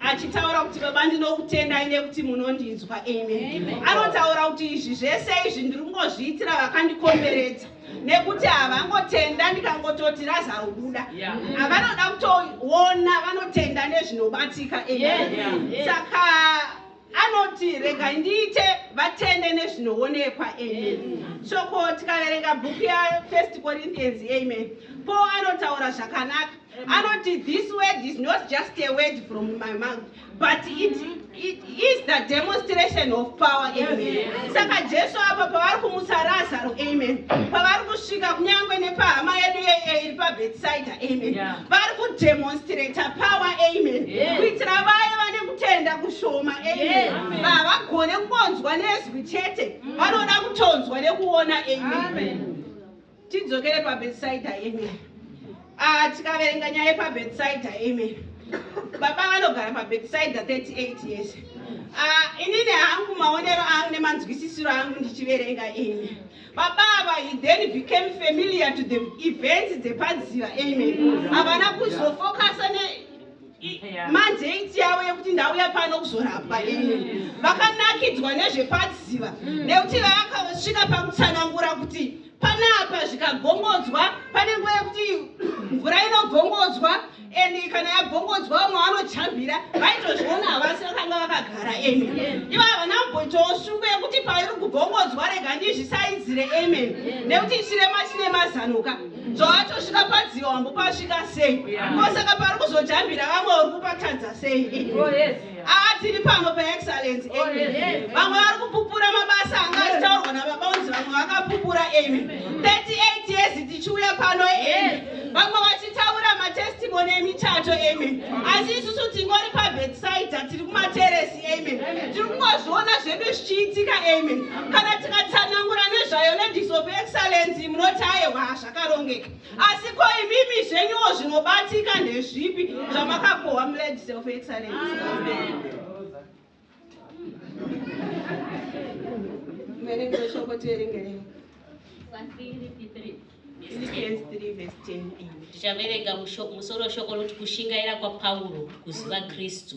achitaura kuti baba ndinokutendai nekuti munondinzwa amen anotaura kuti izvi zvese izvi ndiri kungozviitira vakandikomberedza nekuti havangotenda ndikangototi razarubuda avanoda kutoona vanotenda nezvinobatika amen saka Anoti, Regai ndiite vatende nezvinoonekwa. Amen. Shoko tikaverenga bhuku ya First Corinthians. Amen. Paul anotaura zvakanaka. Anoti, This word is not just a word from my mouth, but it, it is the demonstration of power. Amen. Saka Jesu apa pavari kumutsa Razaro. Amen. Pavari kusvika kunyange nepahama yedu yeye iri paBethsaida. Amen. Yeah. Vari kudemonstrata power. Amen. Yes. Kuitira vaye vane kutenda kushoma amen havagone kungonzwa nezwi chete mm. vanoda kutonzwa nekuona amen tidzokere pabetsaida amen ah, tikaverenga nyaya yepabetsaida amen baba vanogara pabetsaida 38 years ah, inini hangu maonero angu nemanzwisisiro angu ndichiverenga amen baba ava he then became familiar to the events dzepadziva amen havana kuzofokasa mandate yavo yekuti ndauya pano kuzorapwa ini vakanakidzwa nezvepadziva mm. nekuti vakasvika pakutsanangura kuti panapa zvikagongodzwa pane nguva yekuti mvura inogongodzwa and kana yagongodzwa vamwe vanojambira vaitozviona havasi vakanga vakagara amen ivo havana kumboitawo shungu yekuti pairi kugongodzwa rega ndizvisaidzire amen nekuti chirema chine mazanoka zvaatosvika padziva wambo pasvika sei kosaka pari kuzojambira vamwe uri kupatadza sei aatiri pano paexcellence amy vamwe vari kupupura mabasa anga achitaurwa nababa unzi vamwe vakapupura amy 38 years tichiuya pano amy vamwe vachitaura matestimony emichato amy asi isusu tingori pabetside tiri kumateresi amen tiri kungozviona zvedu zvichiitika amen kana tikatsanangura nezvayo ladies of excellence munoti ayewa zvakarongeka asi ko imimi zvenyuwo zvinobatika ndezvipi zvamakakohwa muladies of excellence mene kunoshoko tierengerei tichaverenga musoro shoko roti kushingaira kwapauro kuziva kristu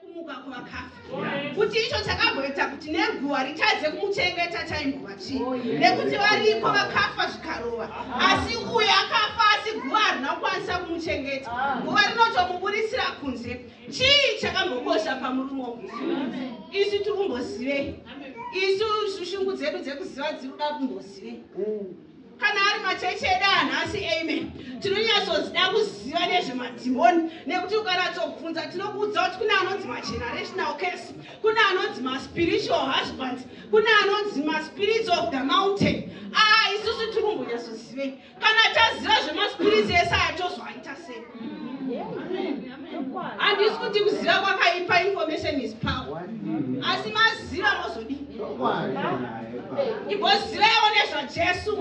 kumuka kuvakafa kuti icho chakamboita kuti neguva ritadze kumuchengeta chaimbova chii oh, nekuti variko vakafa zvikarova asi uye akafa asi guva harina kukwanisa kumuchengeta ah. guva rinotomuburitsira kunze chii chakambokosha pamurume wo isu tiri kumbozivei isu shushungu dzedu dzekuziva dziri kuda kumbozivei mm. kana ari machechi edu anhasi amen tinonyatsodzida kuziva nezvemadhimoni nekuti ukanatsokubvunza tinokuudza kuti kune anonzi magenerational case kune anonzi maspiritual husband kune anonzi maspirits of the mountain aa ah, isusu tiri kumbonyatsozivei kana taziva zvemaspirits ese aya tozoaita sei handisi kuti kuziva kwakaipa information is power asi maziva mozodi igozivewo nezvajesu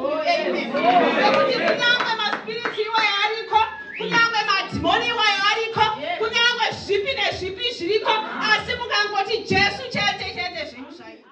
ekuti kunyange maspiriti iwayo ariko kunyange madhimoni iwayo ariko kunyange zvipi nezvipi zviriko asi mukangoti jesu chete chete zvinhu zvaita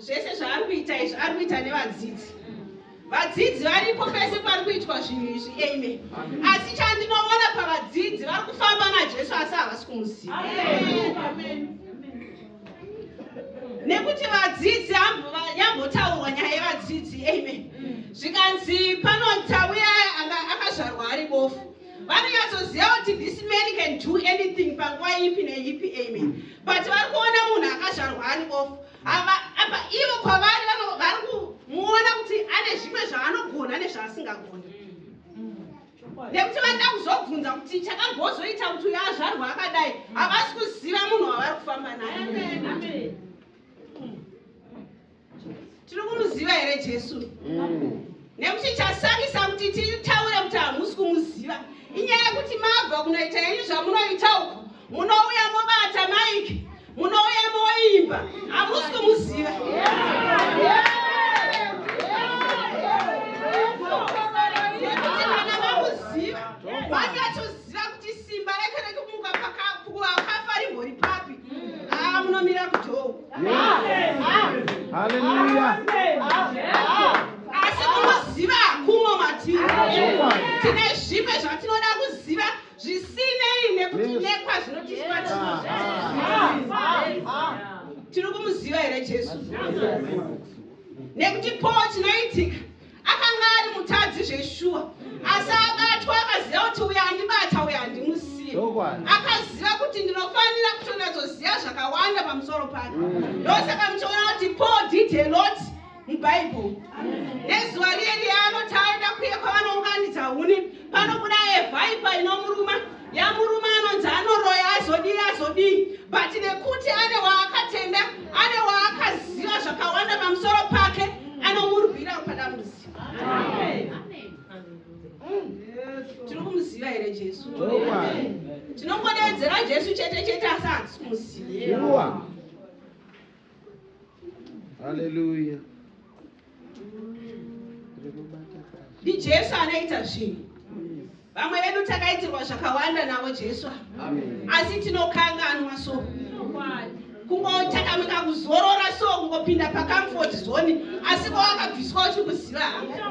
zvese zvaari kuita izvi ari kuita nevadzidzi vadzidzi varipo pese pari kuitwa zvinhu izvi eme asi chandinovona pavadzidzi vari kufamba najesu asi havasi kumuziva nekuti vadzidzi yambotaurwa nyaya yevadzidzi eme zvikanzi panotauya akazvarwa ari bofu vanonyatsoziva kuti this man can do anything panguva ipi neipi amen but vari kuona munhu akazvarwa ani off apa ivo kwavari vari kumuona kuti ane zvimwe zvaanogona nezvaasingagoni nekuti vanoda kuzobvunza kuti chakambozoita kuti uyo azvarwa akadai havasi kuziva munhu wavari kufamba naye tiri kumuziva here jesu mm. nekuti chasarisa kuti titaure kuti hamusi kumuziva inyaya yekuti mabva kunoita yenyu zvamunoita uko munouya mobata maiki munouya moimba hamusi kumuziva Ziva kuti simba rake rekumuka pakavakafa rimbori papi? Ah, munomira kudhoo. Hallelujah. Asi munoziva hakumo matiri. Tine zvimwe zvatinoda kuziva zvisinei nekuti nekwa zvinotiswa tiri kumuziva here Jesu? Nekuti po chinoitika Akanga ari mutadzi zveshuwa, asi abatwa akaziva kuti uyo andibata uyo handimusiye. Akaziva kuti ndinofanira kutonatsoziva zvakawanda pamusoro pake. Ndosaka muchiona kuti Paul did a lot muBible. Nezuva riye riye anoti aenda kuye kwavanounganidza huni, panobuda a viper inomuruma. Yaa murume anonzi anoroya azodii azodii but nekuti ane waakatenda ane waakaziva zvakawanda pamusoro pake anomurwira padambudziko. Tiri kumuziva here Jesu? Tinongodeedzera Jesu chete chete asi hatisi kumuziva. haleluya ndijesu anoita zvinhu vamwe vedu takaitirwa zvakawanda navo jesu asi tinokanganwa so kungotakamika kuzorora so kungopinda pacomfort zone asi kwawakabviswa uchikuziva hanga